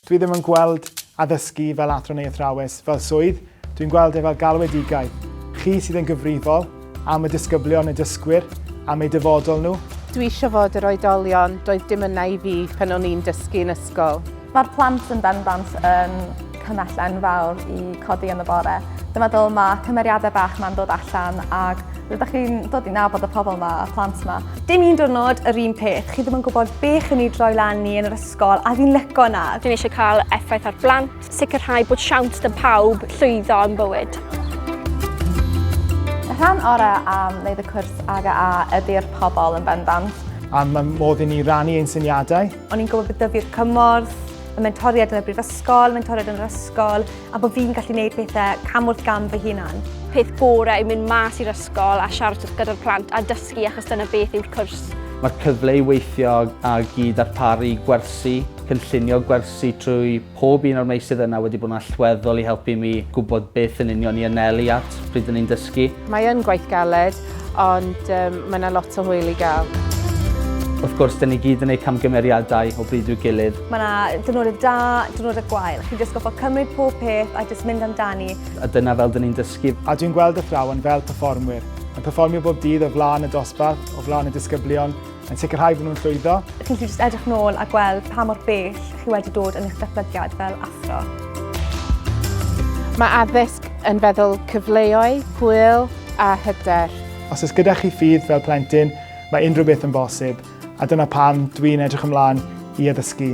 Dwi ddim yn gweld addysgu fel athro neu athrawes fel swydd, dwi'n gweld e fel galwedigaeth. Chi sydd yn gyfrifol am y disgyblion, y dysgwyr, am eu dyfodol nhw. Dwi eisiau fod yr oedolion doedd dim yna i fi pan o'n i'n dysgu yn ysgol. Mae'r plant yn bendant yn cymell enfawr i codi yn y bore. Dwi'n meddwl mae cymeriadau bach ma'n dod allan ac rydych chi'n dod i nabod y pobl yma, y plant yma. Dim un diwrnod yr un peth. Chi ddim yn gwybod be chi'n ei droi lan ni yn yr ysgol a fi'n lyco na. Dwi'n eisiau cael effaith ar blant, sicrhau bod siawns da pawb llwyddo yn bywyd. Y rhan orau am wneud y cwrs AGA ydy'r pobl yn bendant. A mae modd i ni rannu ein syniadau. O'n i'n gwybod bod dyfu'r cymorth, y mentoriad yn y brifysgol, mentoriad yn yr ysgol, a bod fi'n gallu gwneud pethau cam wrth gam fy hunan. Peth gore yw mynd mas i'r ysgol a siarad gyda'r plant a dysgu achos dyna beth yw'r cwrs. Mae'r cyfle i weithio ag i ddarparu gwersi, cynllunio gwersi trwy Pob un o'r meysydd yna wedi bod yn allweddol i helpu mi gwybod beth yn union i anelu at pryd o'n i'n dysgu. Mae yn gwaith galed, ond mae yna lot o hwyl i gael. Wrth gwrs, dyn ni gyd yn eu camgymeriadau o bryd i'w gilydd. Mae yna diwrnodau da, diwrnodau gwael. Chi'n jyst gorfod cymryd pob peth a jyst mynd amdani. A dyna fel dyn ni'n dysgu. A dwi'n gweld athrawon fel perfformwyr, yn perfformio bob dydd o flaen y dosbarth, o flaen y disgyblion, yn sicrhau bod nhw'n llwyddo. Chi'n gallu just edrych nôl a gweld pa mor bell chi wedi dod yn eich datblygiad fel athro. Mae addysg yn feddwl cyfleoedd, hwyl a hyder. Os oes gyda chi ffydd fel plentyn, mae unrhyw beth yn bosib, a dyna pam dwi'n edrych ymlaen i addysgu.